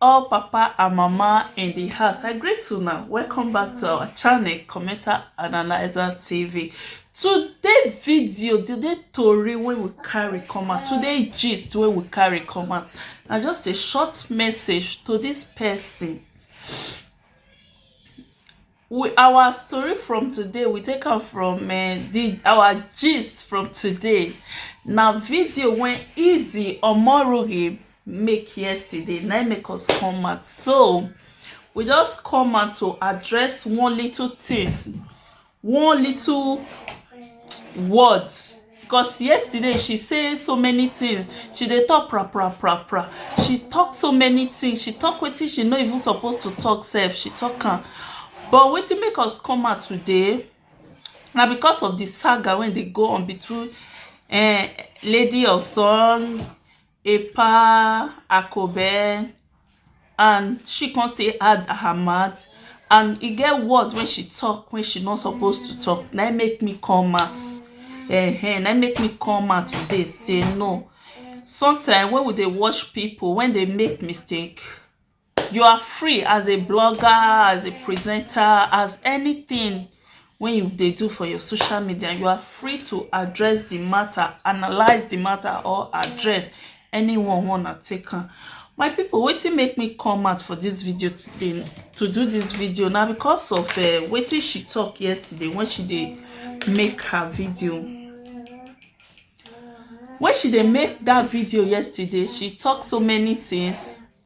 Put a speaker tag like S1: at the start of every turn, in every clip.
S1: all papa and mama in the house i greet you now welcome back to our channel commenter analyzer tv today video today tori wey we carry come out today gist wey we carry come out na just a short message to this person we our story from today we take am from um, the our gist from today na video when easy omoroghe make yesterday na make us come out so we just come out to address one little thing one little word Cos yesterday she say so many things she dey talk pra pra pra pra she talk so many things she talk wetin she no even suppose to talk sef she talk am but wetin make us come out today na because of the saga wey dey go on between um lady osun Epa, Akobe and she come still add Ahmad and e get word wey she talk wey she no suppose to talk na im make me come out eh na im make me come out today say no sometimes when we dey watch people when they make mistake you are free as a blogger as a presenter as anything wey you dey do for your social media you are free to address the matter analyse the matter or address anyone wanna take am my people wetin make me come out for this video today to do this video na because of uh, wetin she talk yesterday when she dey make her video when she dey make that video yesterday she talk so many things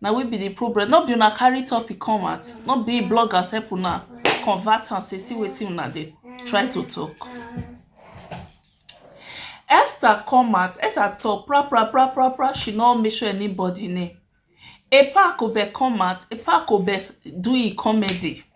S1: na we be the problem no be una carry topic come out no be bloggers help una convert am say see wetin una dey try to talk esther come out esther talk pra pra pra pra pra she no make sure anybody name epa kobe come out epa kobe do e comedy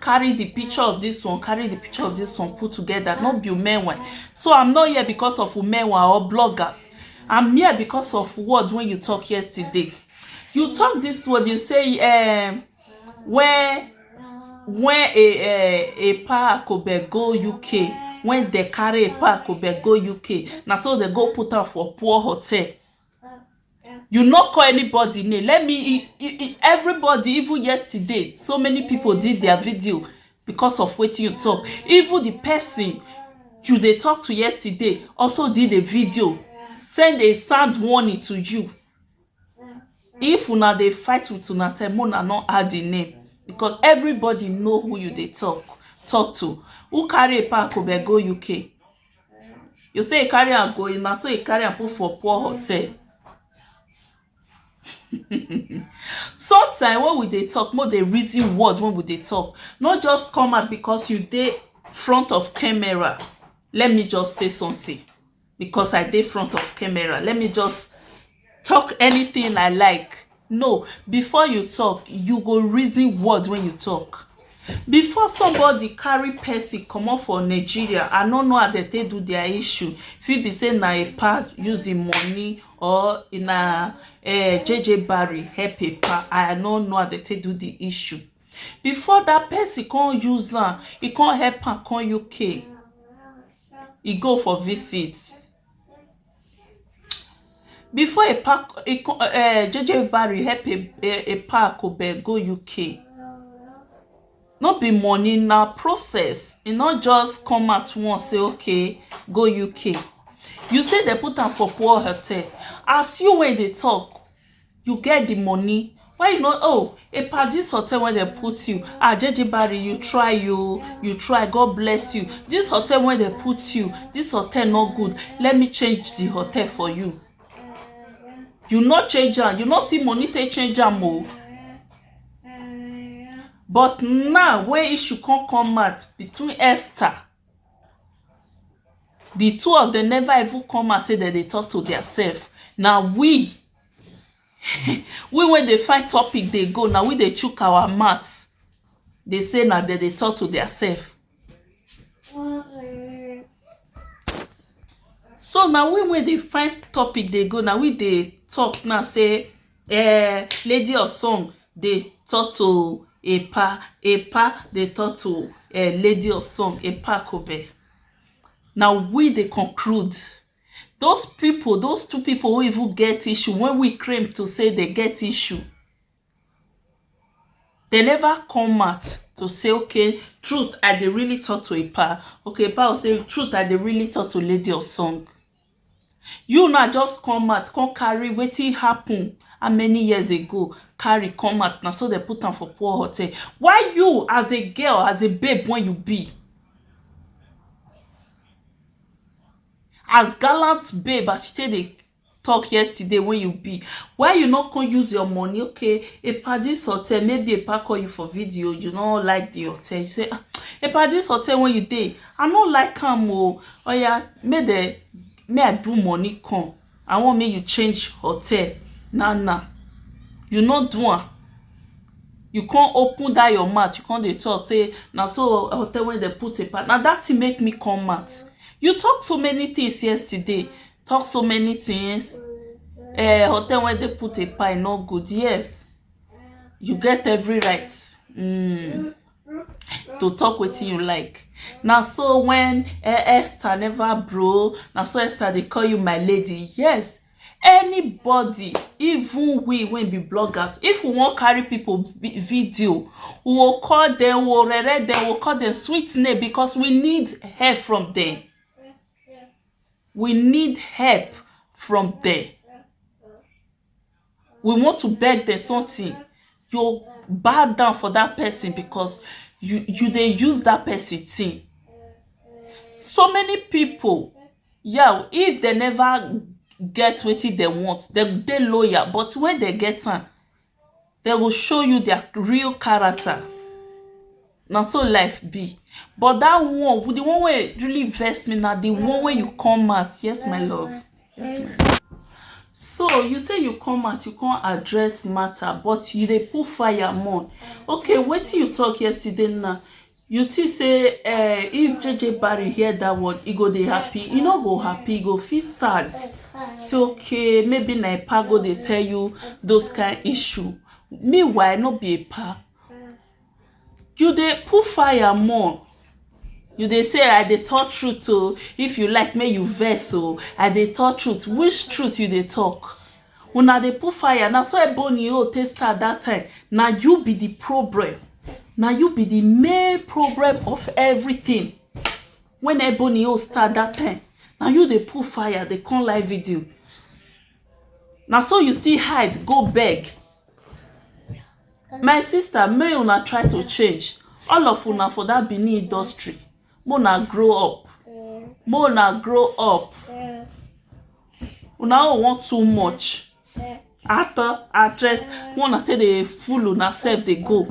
S1: carry the picture of this one carry the picture of this one put together no be umenwe so i'm not here because of umenwe or bloggers i'm here because of words when you talk yesterday you talk this word you say um, when when a a a pa akobe go uk when they carry a pa akobe go uk na so they go put am for poor hotel you no call anybody name let me everybody even yesterday so many people did their video because of wetin you talk even the person you dey talk to yesterday also did a video send a sound warning to you if una dey fight with una sef make una no add the name because everybody know who you dey talk talk to who carry a pack of go uk You say e carry am go na so e carry am put for poor hotel sometime wen we dey talk make we dey reason word wey we dey talk no just come out because you dey front of camera let me just say something because I dey front of camera let me just talk anything i like no before you talk you go reason word when you talk before somebody carry person comot for nigeria i no know as dem take do their issue fit be say na epa use him money or na eh, jeje barry help epa i no know as dem take do the issue before that person come use am e come help am come uk e go for visit before e pack e come um JJ Barry help e pack go UK no be money na process e no just come out once say okay go UK you say dem put am for poor hotel as you wey dey talk you get the money why you no oh a padi hotel wey dem put you ah jeje barry you try you you try god bless you this hotel wey dem put you this hotel no good let me change the hotel for you you no change am you no see money take change am o but now wey issue come come out between esther the two of them never even come out say dem dey talk to their self na we we wey dey find topic dey go na we dey chook our mouth dey say na dem dey talk to their self so na we wey dey find topic dey go na we dey talk now say eh, lady of song dey talk to epa epa dey talk to eh, lady of song epa kobe na we dey conclude those people those two people who even get issue wey we claim to say they get issue they never come out to say okay truth i dey really talk to epa okay epa go say truth i dey really talk to lady of song you now just come out come carry wetin happen how many years ago carry come out na so dem put am for poor hotel why you as a girl as a babe wey you be as gallant babe as you take dey talk yesterday wey you be why you no come use your money okay a padis hotel maybe a pa call you for video you no like the hotel you say ah a padis hotel wey you dey i no like am o oya make dem make i do money come I want make you change hotel now now you no do am you come open that your mouth you come dey talk say na so hotel wey dem put a part na that thing make me come mad you talk so many things yesterday talk so many things eh hotel wey dem put a part e no good yes you get every right mm. to talk wetin you like na so when eh, esther never bro na so esther dey call you my lady yes anybody even we wey be bloggers if we wan carry people video we go call them we go rere them we go call them sweet name because we need help from them we need help from them we want to beg dem something you bow down for that person because you you dey use that person thing so many people yah if dem never get wetin dem want dem dey loyal but when dem get am dem go show you their real character na so life be but that one with the one wey really vex me na the one wey you come out yes my love yes my love so you say you come out you come address matter but you dey put fire more okay wetin you talk yesterday now You think say eh if JJ Barry hear that word e go dey happy? E no go happy, e go feel sad. Say okay maybe na Epa go dey tell you those kind issue. Meanwhile no be Epa. You dey put fire more. You dey say I dey talk truth o, if you like make you vex o, I dey talk truth. Which truth you dey talk? Una dey put fire na so Ebony own take start that time na you be the problem na you be the main problem of everything when Ebony own start that time na you dey put fire dey come live video na so you still hide go beg my sister make una try to change all of una for that Benin industry mo na grow up mo na grow up una own wan too much actor actress mo na take dey fool una sef dey go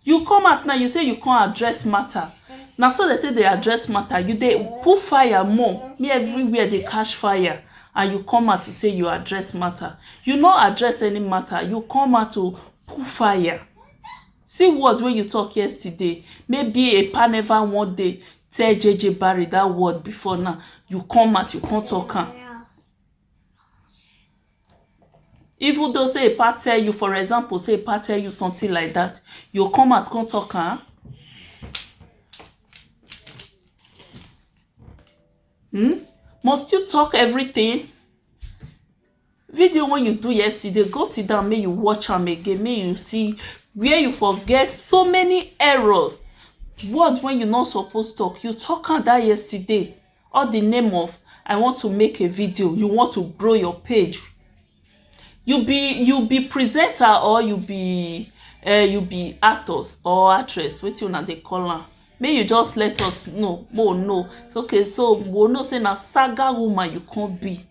S1: you come out now you say you come address matter na so they take dey address matter you dey put fire more me everywhere dey catch fire and you come out to say you address matter you no address any matter you come out to put fire See word wey you talk yesterday maybe a pa never one day tell JJ Barry that word before now you come out you come talk am even though say a pa tell you for example say a pa tell you something like that you come out come talk am hmm? must you talk everything video wey you do yesterday go sit down make you watch am again make you see where you for get so many errors word wey you no suppose talk you talk am that yesterday all the name of i want to make a video you want to grow your page you be you be presenter or you be uh, you be actors or actress wetin una dey call am make you just let us know more know okay so we know say na saga woman you come be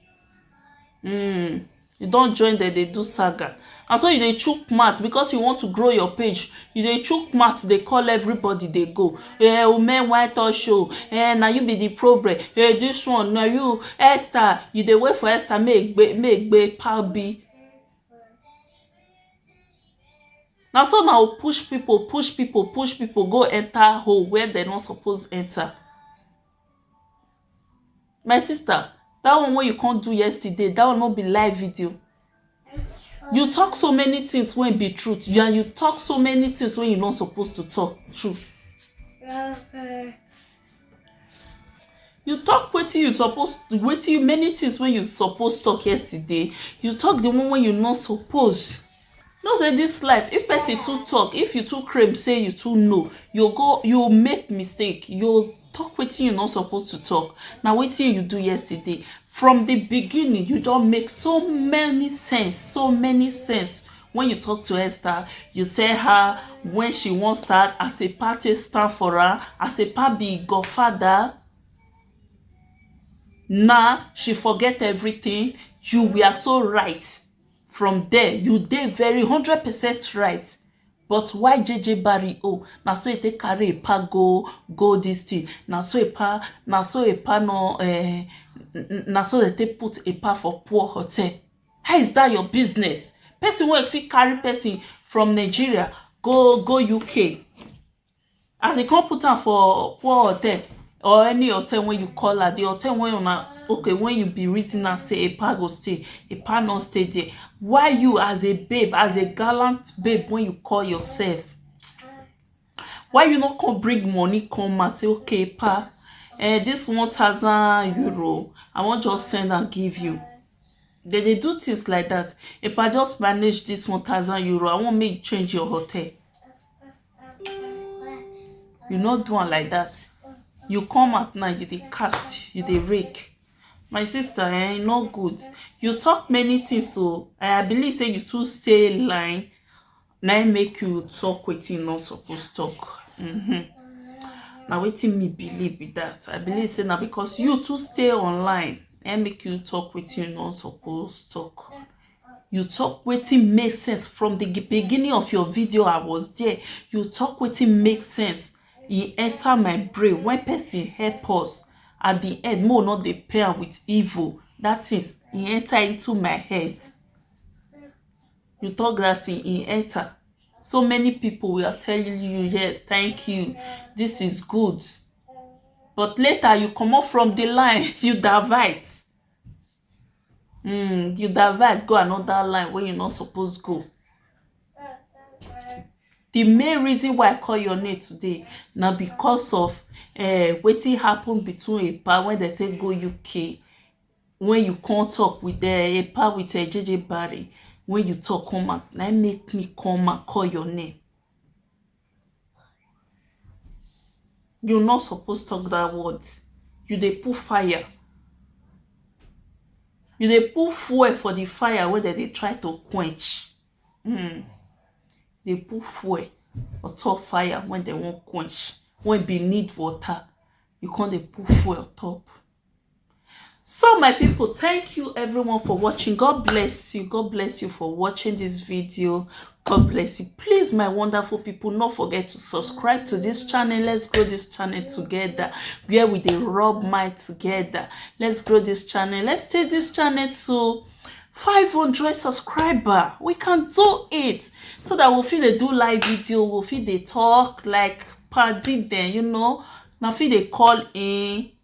S1: um you don join dem dey do saga na so you dey chook mouth because you want to grow your page you dey chook mouth dey call everybody dey go eh women white us show eh na you be the problem eh this one na you Esther you dey wait for Esther make egbe make egbe pa bi na so na o push people push people push people go enter hole where dem no suppose enter My sister dat one wey you come do yesterday dat one no be live video you talk so many things wey be truth you and you talk so many things wey you no suppose to talk true you talk wetin you suppose wetin many things wey you suppose talk yesterday you talk the one wey you no suppose know say this life if person too talk if you too claim say you too know you go you make mistake you talk wetin you no suppose to talk na wetin you do yesterday from the beginning you don make so many sense so many sense when you talk to Esther you tell her when she wan start as a pa take stand for her as a pa be godfather na she forget everything you were so right from there you dey very hundred percent right but why JJ Barry oh na so e take carry e pa go go this thing na so e pa na so e pa no eh, na so they take put e pa for poor hotel how is that your business person wey fit carry person from Nigeria go go UK as e come put am for poor hotel or any hotel wey you call am the hotel wey una okay wey you be reason am say epa go stay epa no stay there why you as a babe as a gallant babe wey you call yourself why you no come bring money come out say okay epa eh this one thousand euro i wan just send am give you they dey do things like that epa just manage this one thousand euro i wan make you change your hotel you no do am like that you come out now you dey cast you dey rake my sister eh e no good you talk many things o i believe say you too stay line na im make you talk wetin you no suppose talk mm-hmm. na wetin me believe be that i believe say na because you too stay online na im make you talk wetin you no suppose talk. you talk wetin make sense from the beginning of your video i was there you talk wetin make sense e enter my brain when person help us at the end mo no dey pay am with evil that is e enter into my head you talk that thing e enter so many people we are telling you yes thank you this is good but later you comot from the line you divert Mm, you divert go another line where you not supposed to go. The main reason why I call your name today now because of uh, eh, wetin happen between a Epa when they take go UK when you come talk with the eh, Epa with uh, eh, JJ Barry when you talk come out na make me come and call your name You no suppose talk that word. You dey put fire. You dey put fuel for the fire wey dem dey try to quench. Mm. Dey put fuel on top fire when dem wan quench, when be need water. You come dey put fuel on top. so my people thank you everyone for watching god bless you god bless you for watching this video god bless you please my wonderful people not forget to subscribe to this channel let's grow this channel together where we dey rub mind together let's grow this channel let's take this channel to 500 subscriber we can do it so that we'll feel they do live video we'll feel they talk like party then you know now feel they call in